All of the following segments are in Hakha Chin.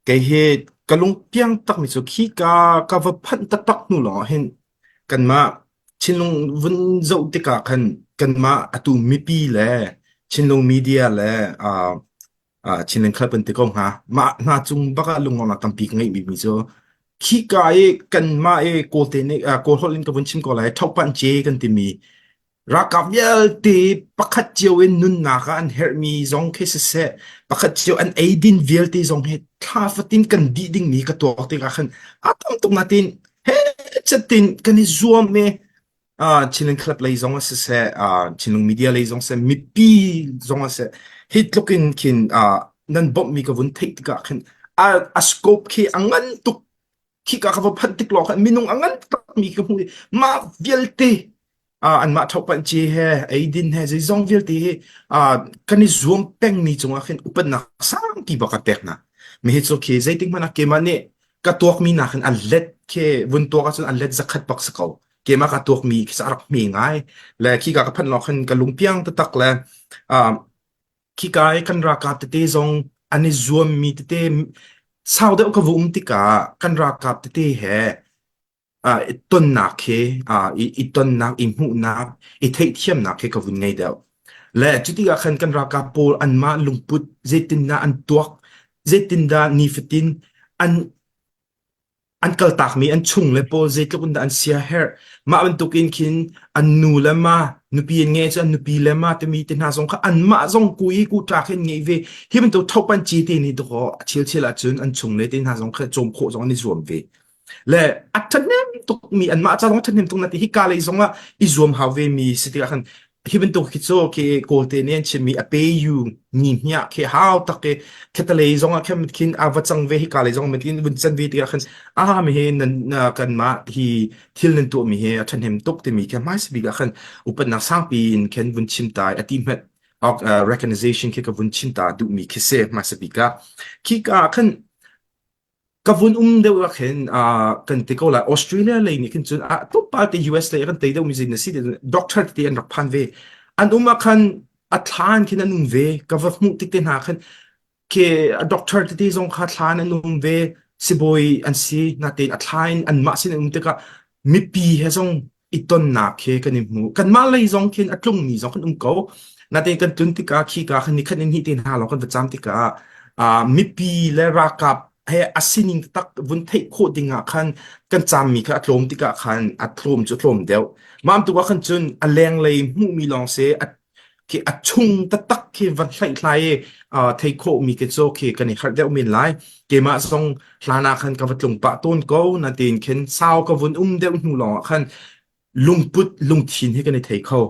Kei hi ka lung piang takmi cu khi ka ka va phanh taktak hnu lawng hin kanmah thinlung vun zoh tikah khan kanmah atu mipi le thinlung media le ah ah thinlung khat bantuk ko hnga. Mah hna cung bak ah lungong a tampi ka ngeih bikmi cu khika i kanmah i kawlte nih ah kawl holh in ka vun chim ko lai thokpanh ce kan timi Ralkap vialte pakhat cio in nunnak ah an herhmi zong khi siseh, pakhat cio an eidin vialte zong hi thla fatin kan dih dingmi ka tuak tikah khan a tam tuk natin he chatin kan i zuam i uh, Chinland club lei zong ah siseh, uh, Chinland media lei zong siseh, mipi zong ah siseh, hi tluk in khin uh, nan bawmhmi ka vun theih tikah khin a, a scope khi a ngan tuk khika ka va phanh tik lawng khan minung a ngan takmi ka hmu i mah vialte uh, anmah thokpan ci he eidin he zeizong vialte hi uh, kan i zuam pengmi cungah khin upatnak sangpi bak ka pek na mi hi cu khi zeitik hmana kema nih ka tuakmi na khin an let ke vun tuak ahcun an let zakhat bak sa ko kema ka tuakmi khi sa rak mi ngai le khi ka ka phanh lo khan ka lungpiang tatak le uh, khika i kan ralkap tete zong an i zuammi tete sau deuh ka va um tikah kan ralkap tete he uh, i tonnak he uh, i, i tonnak i hmuhnak i theihthiamnak he ka vun ngei deuh le cuti ah khan kan ralkap pawl anmah lungput zeitindah an tuak zeitindah nifatin an an kaltakmi an chung le pawl zeitluk in dah an siaherh mah bantuk in khin an nu le ma nupi an nge cu an nupi le ma timi te hna zong kha anmah zong ku i ku tla khin nge ve hi bantuk thopan chi te ni doko a chil chil ahcun an chung le te hna zong kha cawm khawh zong an i zuam ve le a thahnem tuk mi anmah ca zong thahnem tuk na ti hi ka lei zong ah i zuam hau ve mi si tikah khan Hi bantuk khi cu ke kawlte nih an chimmi a pe yu ni hniah khi hau tak i khetalei zong ah khan mit khin a va cang ve hika lei zong mit khin vun can ve tikah khan a mi hi nan uh, kanmah hi thil nan tuahmi hi a ṭhahnem tuk timi khi hmai bik ah khan upatnak sangpi in khan vun chim tai a ti hmet ok, uh, recognition khi ka vun chim ta duhmi khi se hmai bik ah khi ka khan ka vun um deuh ah khin uh, kan ti ko lai Australia lei nih khin cun a tuk pa te US lei kan tei deuh mi zin na si te doctor te an rak phan ve an um ah khan a thlan khin an um ve ka va hmuh tik te hna khan ke a doctor te te zong kha thlan an um ve sibawi an si na te a thlan an mah sin an um tikah mipi he zong i tonnak he kan i hmu. Kanmah lei zong khin a tlungmi zong kan um ko. Natein kan tlun tikah khi ka khan ni khan in hi te hna lo kan va cham tikah uh, mipi le rakap he a sining tak vun theih khawh dingah khan kan cham mi kha a tlawm tikah khan a tlawm cu tlawm deuh. Mam tu kan cun a leng lei hmuhmi lawng se a khi a chung taktak khi van hlaihhlai i uh, thei khawhmi khi cu khi kan i harh deuh men lai keimah zong hlan ah khan ka va tlung pah tawn ko na tin khin sau ka vun um deuh hnu lawng ah khan lungput lungthin hi kan i thei kho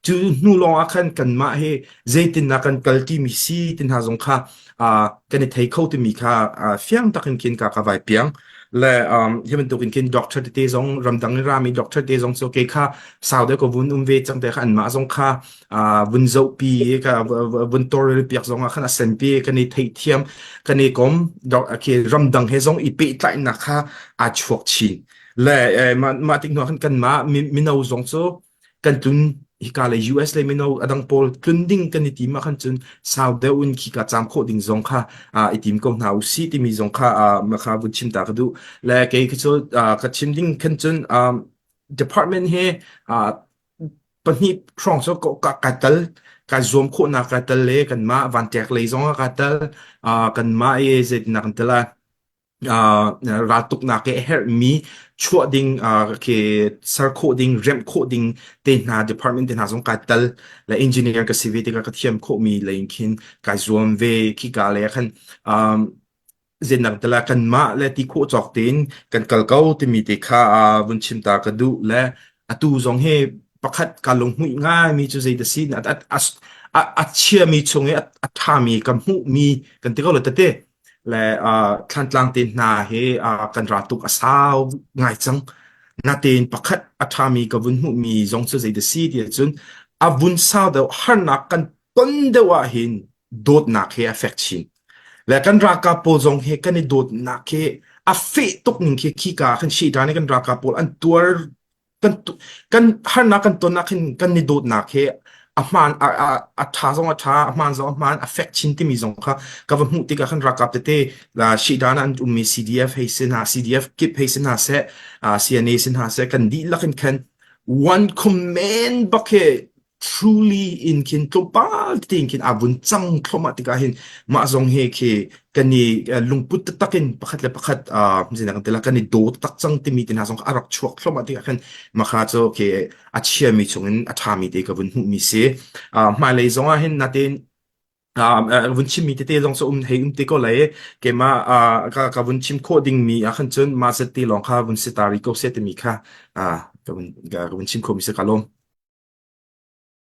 cu hnu lawng ah khan kanmah hi zeitin na kan kalti mi si tin ha zong kha uh, kan i thei kho timi kha uh, fiang takin kin ka ka vai piang le um, hi bantuk in kin doctor te zong ramdang i rami doctor te zong chu ke kha sau de ko vun um ve chang te kha an ma zong kha uh, vun zo pi ka vun tor le piak zong khan asen pi kan i thei thiam kan i kom doc ke ramdang he zong i pe tlai na kha a chuak chin le eh, ma ma tik no khan kan ma mi mino zong chu kan tlun hika le US le mino adang pawl tlun ding kan i tim ah khan cun sau deuh in khi ka cham khawh ding zong kha uh, i tim ko hna u si timi zong kha uh, ma kha vun chim ta ka du le kei khi cu uh, ka chim ding khan cun um, department he uh, pahnih trong so ko ka ka tal ka zuam khawh na ka tal le kan ma van tek le zong ka tal uh, kan ma e zet na kan tala raltuknak i a herhmi chuah ding khi ser khawh ding remh khawh ding te hna department te hna zong kai tel la engineer ka si ve tikah ka thiam khawhmi lei in khin kai zuam ve khi ka le khan zennak tela kan mah le ti khawh cawk tein kan kal ko timi te kha vun chim ta ka duh le atu zong he pakhat ka lung hui ngai mi cu zei da sin a chiami chung i a ṭhami kan hmuhmi kan ti ko le tete le uh, Thlantlang te hna hi uh, kan ra tuk a sau ngai cang. Natein pakhat a ṭhami ka vun hmuhmi zong cu zei da si ti cun a vun sau deuh harnak kan ton deuh ahhin dawtnak hi a fek chin. Le kan ralkap pawl zong hi kan i dawtnak hi a feh tuk ning khi khi ka kan shi ṭan i kan ralkap pawl an tuar kan kan harnak kan ton nakin kan ni dawtnak hi a hmaan a, a, a tha zong a tha a hmaan zong a hmaan affect chin timi zong kha ka va hmuh tikah kan rakap tete la shi dan an ummi CDF hei sin ha CDF kip hei sin ha se uh, CNA sin ha se kan dihlak in khan one comment bak he truly in khin tlawmpal tete in khin aa vun cang thluahmah tikah hin mah zong he khi kan i uh, lungput taktak in pakhat le pakhat uh, zinak kan tila kan i do tak cang timi te hna zong a rak chuak thluahmah tikah khan makha cu khi a chiami chungin a ṭhami te ka vun hmuhmi si uh, hmailei zongah hin natin Ah, ah, vun chimmi tete lawng cu um hei um te ko lai keimah ah, ka, ka vun chim khawh dingmi ah khan cun ma set ti lawng kha vun si ta ri ko se timi kha ah, ka vun ka, ka vun chim khawh mi se ka lawm